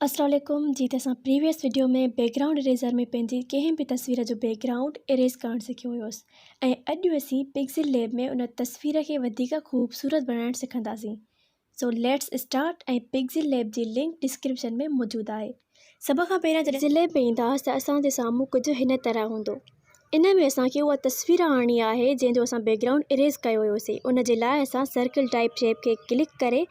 السلام عليڪم جي ته اسان previous video ۾ background eraser ۾ پنهنجي ڪنهن به تصوير جو بيڪ گرائونڊ اريز ڪرڻ سکيو هيوس ۽ اڄ اسين پڪسل ليب ۾ ان تصوير کي وڌيڪ خوبصورت بڻائڻ سکنداسين so let's start ۽ pixel lab جي لنڪ ڊسڪرپشن ۾ موجود آهي سڀ کان پهريان جڏهن پڪسل ليب ۾ اينداس ته اسان جي سامهون ڪجهه هن طرح هوندو. ان ۾ اسان کي اها تصوير آڻڻي آهي جنهن جو اسان بيڪگرائونڊ اريز ڪيو هيوسي ان جي لاء اسان سرڪل ٽائپ شيپ کي ڪلڪ ڪري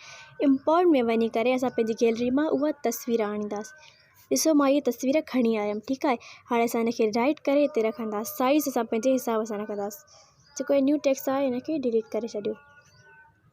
امپورٽ ۾ وڃي ڪري اسان پنهنجي گيلري مان اها تصوير آڻينداسين ڏسو مان اها تصوير کڻي آيم ٺيڪ آهي هاڻي اسان ان کي رائٽ ڪري هتي رکنداسين سائيز اسان پنهنجي حساب سان رکنداسين جيڪو هي نيو ٽيڪس آهي ان کي ڊليٽ ڪري ڇڏيو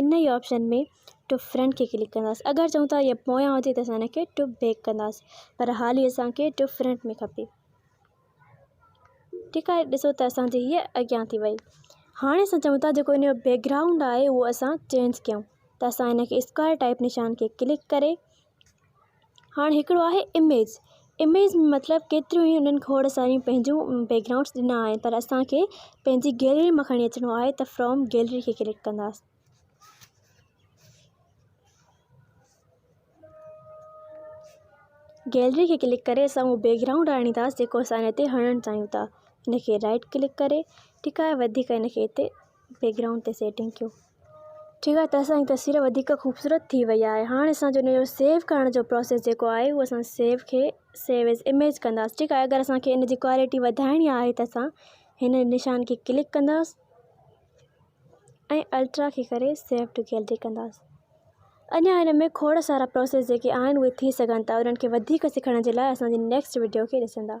ان ئي آپشن ۾ ٽو فرنٽ کي ڪلڪ ڪنداس اگر چئون ٿا هي پويان هجي ته اسان هن کي ٽو بيڪ ڪنداس پر حال هي اسان کي ٽو فرنٽ ۾ کپي ٺيڪ آهي ڏسو ته اسان جي هي اڳيان ٿي وئي هاڻي اسان چئون ٿا جيڪو ان جو بيڪگرائونڊ آهي اهو اسان چينج ڪيون ته اسان هن کي اسڪوائر ٽائپ نشان کي ڪلڪ ڪري هاڻ هڪڙو آهي اميز اميز مطلب ڪيتريون ئي انهن کوڙ ساريون پنهنجون بيڪ گرائونڊس ڏنا آهن پر اسان کي پنهنجي گيلري مان کڻي اچڻو آهي ته فرام گيلري کي ڪلڪ ڪنداسين گيلري کي ڪلڪ ڪري اسان اهو بيڪ گرائونڊ آڻينداسين جيڪو اسان هن تي هڻڻ چاهيون ٿا هن کي رائٽ ڪلڪ ڪري ٺيڪ آهي وڌيڪ هن کي هتي بيڪ گرائونڊ تي سيٽنگ ڪيو ٺيڪ آهي ته اسانجي تصوير وڌيڪ خوبصورت ٿي وئي آهي هاڻي اسان جو انجو سيو ڪرڻ جو پروسيس جيڪو آهي اهو اسان سيو کي سيو ايز اميج ڪنداس ٺيڪ آهي اگر اسانکي ان جي ڪوالٽي وڌائڻي آهي ته اسان هن نشان کي ڪلڪ ڪنداس ۽ الٽرا کي ڪري سيو ٽو گيلري ڪنداس اڃا هن ۾ کوڙ سارا پروسيس جيڪي آهن اهي ٿي سگهن ٿا انهن کي وڌيڪ سکڻ جي لاء اسانجي نيڪسٽ ويڊيو کي ڏسندا